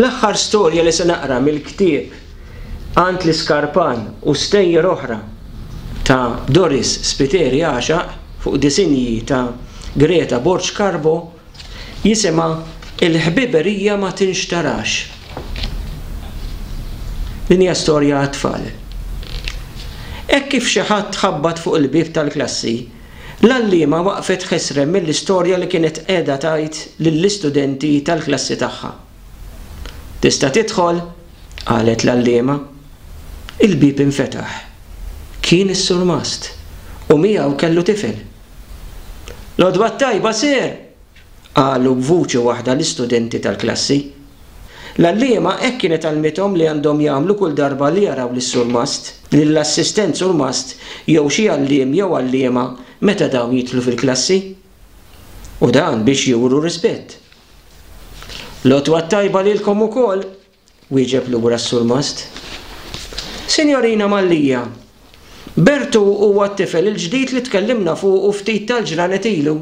L-aħħar storja li se naqra mill-ktieb Għand l-Iskarpan u stejjer oħra ta' Doris Spiteri għaxaq fuq disinji ta' Greta Borg Carbo jisimha Il-ħbiberija ma tinxtarax. Din hija storja għat-tfal. Hekk kif xi ħadd ħabbat fuq il-bieb tal-klassi, L-għalliema waqfet ħesrem mill-istorja li kienet qiegħda tgħid lill-istudenti tal-klassi tagħha. Tista' tidħol? qalet l-għalliema. Il-bieb infetaħ. Kien is-surmast u miegħu kellu tifel. L-għodwa t-tajba, Sir! Qalu b'vuċi waħda l-istudenti tal-klassi. L-għalliema hekk kienet għallmithom li għandhom jagħmlu kull darba li jaraw lis-surmast, lill-assistent surmast jew xi għalliem jew għalliema meta dawn jidħlu fil-klassi. U dan biex juru rispett. L-għodwa t-tajba lilkom ukoll! Wieġeb lura s-surmast, Sinjorina Mallia, Bertu huwa t-tifel il-ġdid li tkellimna fuqu ftit tal-ġranet ilu.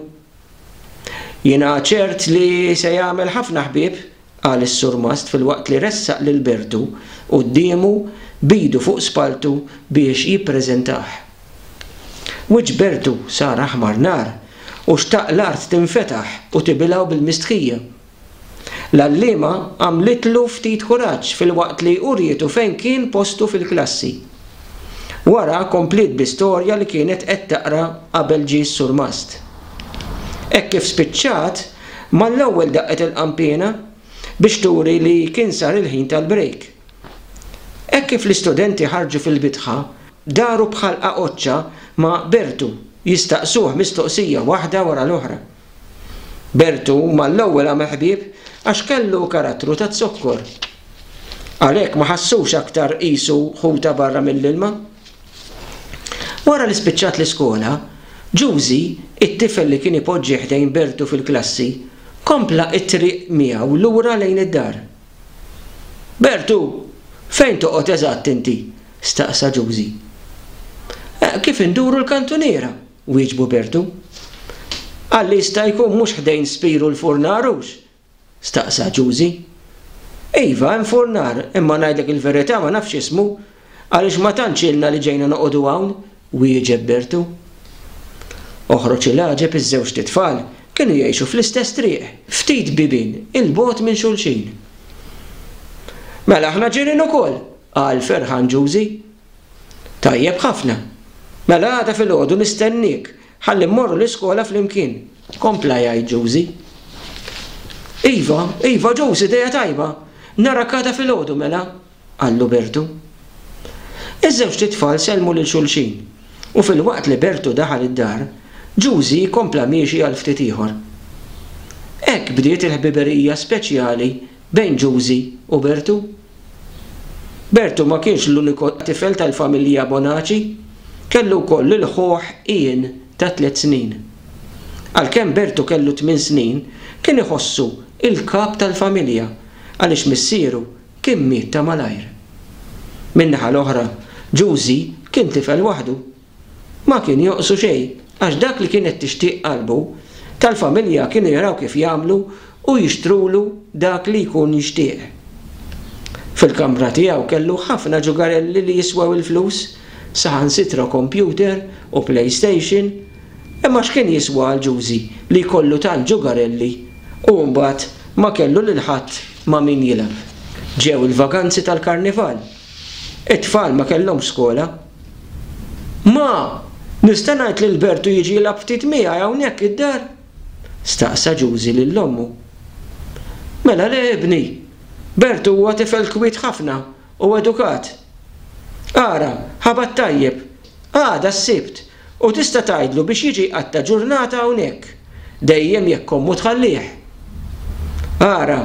Jiena ċert li se jagħmel ħafna ħbieb, qal is-surmast filwaqt li ressaq lil Bertu quddiemu b'idu fuq spalltu biex jippreżentah. Wiċċ Bertu sar aħmar nar u xtaq l-art tinfetaħ u tibilgħu bil-mistħija. L-għalliema għamlitlu ftit kuraġġ filwaqt li urietu fejn kien postu fil-klassi. Wara kompliet bl-istorja li kienet qed taqra qabel ġie s-surmast. Hekk kif spiċċat, mal-ewwel daqqet il-qanpiena biex turi li kien sar il-ħin tal-brejk. Hekk kif l-istudenti ħarġu fil-bitħa, daru b'ħalqa qoċċa ma' Bertu jistaqsuh mistoqsija waħda wara l-oħra. Bertu mal-ewwel għamel ħbieb għax kellu karattru taz-zokkor. Għalhekk ma ħassux aktar qisu ħu ta' barra mill-ilma. Wara li spiċċat l-iskola, Ġużi, it-tifel li kien ipoġġi ħdejn Bertu fil-klassi, kompla t-triq miegħu lura lejn id-dar. Bertu, fejn toqgħod eżatt inti? staqsa Ġużi. Kif induru l-kantuniera. Wieġbu Bertu. Qal li jista' jkun mhux ħdejn Spiru l-furnar hux? staqsa Ġużi. Iva, hemm furnar, imma ngħidlek il-verità ma nafx ismu, għaliex ma tantx ilna li ġejna noqogħdu hawn, wieġeb Bertu. Oħroġ il-għaġeb iż-żewġt itfal kienu jgħixu fl-istess triq, ftit bibien 'il bogħod minn xulxin. Mela aħna ġirien ukoll, qal ferħan Ġużi. Tajjeb ħafna. Mela għada filgħodu nistenniek ħalli mmorru l-iskola flimkien. Kompla jgħid Ġużi. Iva, iva Ġużi, idea tajba. Narak għada filgħodu mela, qallu Bertu. Iż-żewġt itfal sellmu lil xulxin u filwaqt li Bertu daħal id-dar, Ġużi kompla miexi għal ftit ieħor. Hekk bdiet il-ħbiberija speċjali bejn Ġużi u Bertu. Bertu ma kienx l-uniku tifel tal-familja Bonaci, kellu wkoll lil ħuh Ian ta' tliet snin. Għalkemm Bertu kellu tmien snin, kien iħossu l-kap tal-familja għaliex missieru kien miet ta' malajr. Min-naħa l-oħra, Giusy kien tifel waħdu. Ma kien jonqsu xejn, għax dak li kienet tixtieq qalbu, tal-familja kienu jaraw kif jagħmlu u jixtrulu dak li jkun jixtieq. Fil-kamra tiegħu kellu ħafna ġugarelli li jiswew il-flus, saħansitra kompjuter u playstation, imma x'kien jiswa għal Ġużi li jkollu tant ġugarelli u mbagħad ma kellu lil ħadd ma' min jilgħab? Ġew il-vaganzi tal-Karnival. It-tfal ma kellhomx skola. Ma, nista' ngħid lil Bertu jiġi jilgħab ftit miegħi hawnhekk id-dar? staqsa Ġużi lil ommu. Mela le, ibni. Bertu huwa tifel kwiet ħafna u edukat. Ara, ħabat tajjeb. Għada s-Sibt u tista' tgħidlu biex jiġi jqatta' ġurnata hawnhekk, dejjem jekk ommu tħallih. Ara,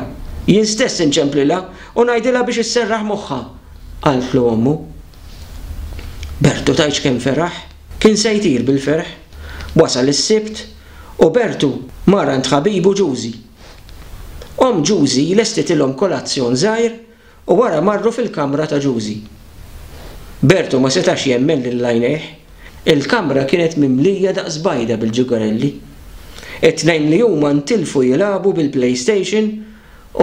jien stess inċemplilha u ngħidilha biex isserraħ moħħha, qaltlu ommu. Bertu tgħidx kemm feraħ. Kien se jtir bil-ferħ. Wasal is-Sibt u Bertu mar għand ħabibu Ġużi. Omm Ġużi lestitilhom kolazzjon żgħir u wara marru fil-kamra ta' Ġużi. Bertu ma setax jemmen lil għajnejh. Il-kamra kienet mimlija daqs bajda bil-ġugarelli. It-tnejn li huma ntilfu jilagħbu bil-playstation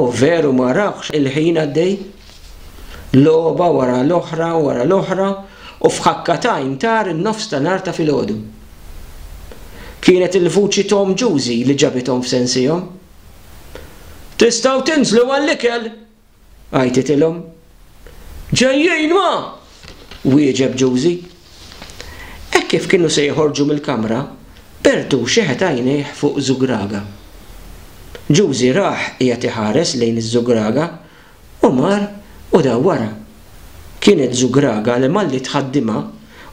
O veru ma rahx il-ħin għaddej? Logħba wara l-oħra wara l-oħra u f'ħakka t'għajn tar in-nofs ta' nhar ta' filgħodu. Kienet il-vuċi t'omm Ġużi li ġabithom f'sensihom. Tistgħu tinżlu għall-ikel! għajtitilhom Ġejjin ma! wieġeb Ġużi. Hekk kif kienu se joħorġu mill-kamra, Pertu xeħet għajnejh fuq żugraga. Ġużi rah qiegħed iħares lejn iż-żugraga u mar u daw wara. Kienet żugraga li malli tħaddimha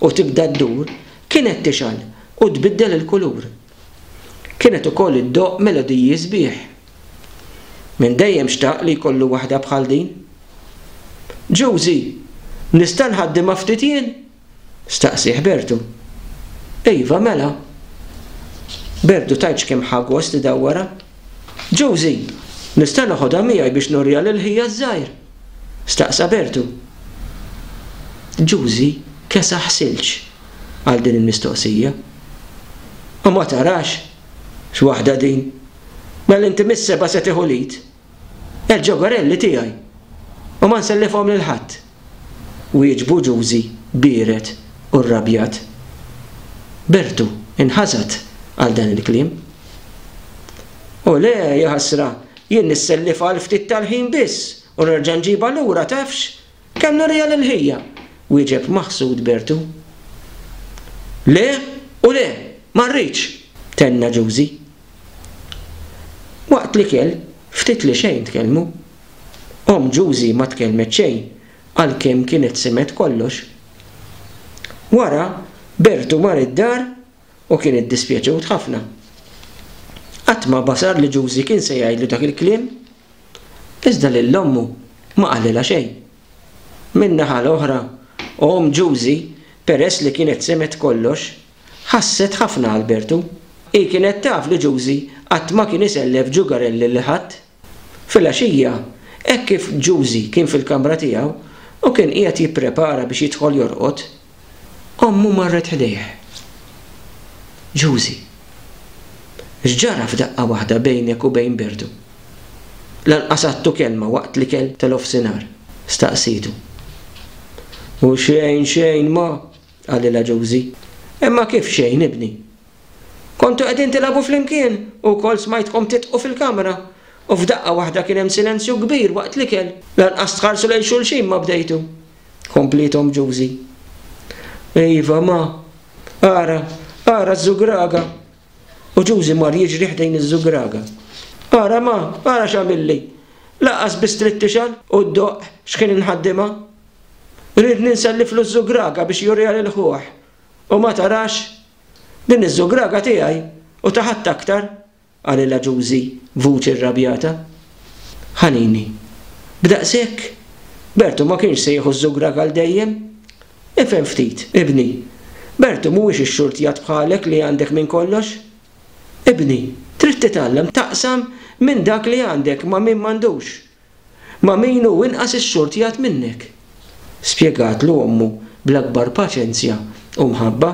u tibda ddur kienet tixgħal u tbiddel il-kulur. Kienet ukoll iddoqq melodiji sbieħ. Minn dejjem xtaq li jkollu waħda bħal din. Ġużi, nista' nħaddimha ftit jien? staqsieh Bertu. Iva, mela. Bertu tgħidx kemm ħa gost idawwarha. Ġużi, nista' noħodha miegħi biex nuriha lil ħija ż-żgħir? staqsa Bertu. Ġużi kesaħ silġ għal din il-mistoqsija. U ma tarax x'waħda din! Mela inti mis-sebgħa se tieħu l-id? Il-ġogorelli tiegħi! U ma nsellifhom lil ħadd! wieġbu Ġużi biered u rrabjat. Bertu nħasad għal dan il-kliem. U le, jaħasra, jien nissellifha għal ftit tal-ħin biss u nerġa' nġibha lura tafx? Kellna rijal il-ħija, wieġeb maħsud Bertu. Le u le, ma rridx! tenna Ġużi. Waqt l-ikel, ftit li xejn tkellmu. Omm Ġużi ma tkellmet xejn għalkemm kienet simgħet kollox. Wara, Bertu mar id-dar u kien iddispjaċewt ħafna. Qatt ma basar li Ġużi kien se jgħidlu dak il-kliem, iżda lil ommu ma qalilha xejn. Min-naħa l-oħra, omm Ġużi, peress li kienet semgħet kollox, ħasset ħafna għal Bertu. Hi kienet taf li Ġużi qatt ma kien isellef ġugarelli lil ħadd. Filgħaxija, hekk kif Ġużi kien fil-kamra tiegħu u kien qiegħed jipprepara biex jidħol jorqod, ommu marret ħdejh. Ġużi! X'ġara f'daqqa waħda bejnek u bejn Bertu? Lanqas għadtu kelma waqt l-ikel tal-ofsinhar? staqsietu. U xejn, xejn, Ma! qalilha Ġużi. Imma kif xejn, ibni? Kontu qegħdin tilagħbu flimkien u wkoll smajtkom tidqu fil-kamra u f'daqqa waħda kien hemm silenzju kbir waqt l-ikel. Lanqas tħarsu lejn xulxin ma bdejtu, kompliet omm Ġużi. Iva, ma. Ara, ara ż-żugraga! U Ġużi mar jiġri ħdejn iż-żugraga. Ara, ma, ara x'għamilli! Lanqas biss trid tixgħel u ddoqq x'ħin inħaddimha. Riedni nselliflu ż-żugraga biex juriha lil ħuh u ma tarax! Din iz-zugraga tiegħi u ta' ħadd aktar! qalilha Ġużi b'vuċi rrabjata. Ħanini. B'daqshekk? Bertu ma kienx se jieħu z-zugraga għal dejjem! Ifhem ftit, ibni. Bertu mhuwiex ix-xurtjat bħalek li għandek minn kollox. Ibni, trid titgħallem taqsam minn dak li għandek ma' min m'għandux! Ma' min hu inqas is-sord jgħadd minnek, spjegatlu ommu bl-akbar paċenzja u mħabba.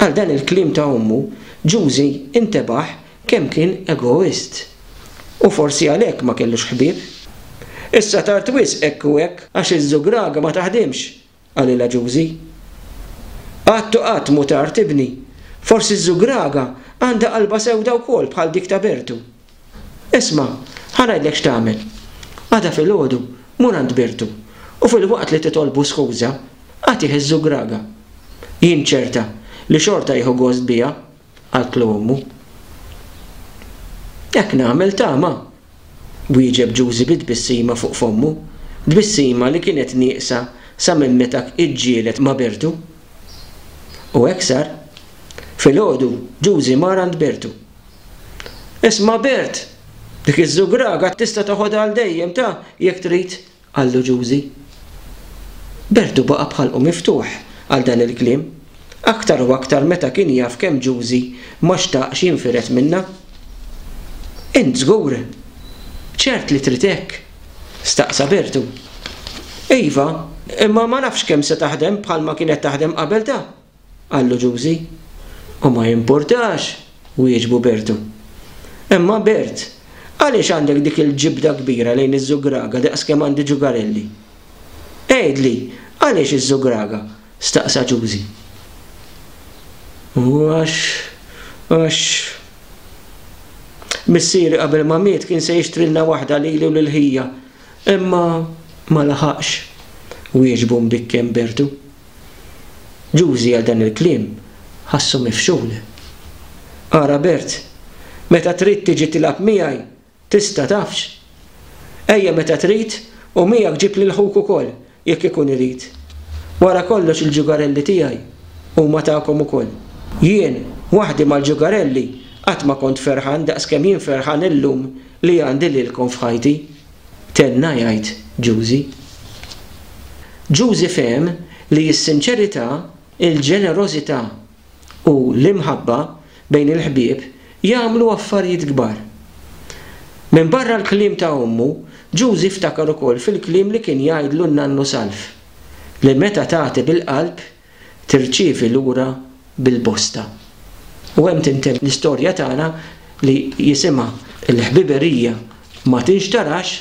Għal dan il-kliem ta' ommu, Ġużi intebaħ kemm kien egoist. U forsi għalhekk ma kellux ħbieb. Issa tard wisq hekk u hekk, għax iż-żugraga ma taħdimx, qal il-Aġużi. Qatt u qatt mhu tard, ibni. Forsi ż-żugraga għandha qalbha sewda wkoll bħal dik ta' Bertu. Isma', ħa ngħidlek x'tagħmel. Għada filgħodu mur għand Bertu u filwaqt li titolbu skuża, agħtih iż-żugraga. Jien ċerta li xorta jieħu gost biha. qaltlu ommu. Hekk nagħmel tama! wieġeb Ġużi bi tbissima fuq fommu, tbissima li kienet nieqsa sa minn meta ġġieled ma' Bertu. U hekk sar. Filgħodu Ġużi mar għand Bertu. Isma' Bert! Dik iż-żugraga tista' toħodha għal dejjem ta jekk trid, Qallu Ġużi. Berdu baqa' b'ħalqu miftuħ għal dan il-kliem, aktar u aktar meta kien jaf kemm Ġużi ma xtaqx jinfired minnha. Int żgur? Ċert li trid hekk? staqsa Berdu. Iva, imma ma nafx kemm se taħdem bħalma kienet taħdem qabel da! Qallu Ġużi, u ma jimpurtax, wieġbu Bertu. Imma Bert, għaliex għandek dik il-ġibda kbira lejn iż-żugraga daqs kemm għandi ġugarelli? Għidli, għaliex iż-żugraga? staqsa Ġużi. U għax, għax. Missieri qabel ma miet kien se jixtrilna waħda lili u lil ħija, imma ma laħaqx, wieġbu mbikken Bertu. Ġużi għal dan il-kliem ħassu mifxul. Ara Bert, meta trid tiġi tilgħab miegħi, tista' tafx? Ejja meta trid u miegħek ġib lil ħuk ukoll jekk ikun irid. Wara kollox il-ġugarelli tiegħi huma tagħkom ukoll. Jien waħdi mal-ġugarelli qatt ma kont ferħan daqs kemm jien ferħan illum li għandi lilkom f'ħajti. Tenna jgħid Ġużi. Ġużi fehem li s-sinċerità, il-ġenerożità u l-imħabba bejn il-ħbieb jagħmlu affarijiet kbar. Minbarra l-kliem ta' ommu, Ġużi ftakar ukoll fil-kliem li kien jgħidlu n-nannu Salv, li meta tagħti bil-qalb tirċievi lura bil-bosta. U hemm tintemm l-istorja tagħna li jisimha l-ħbiberija ma tinxtarax.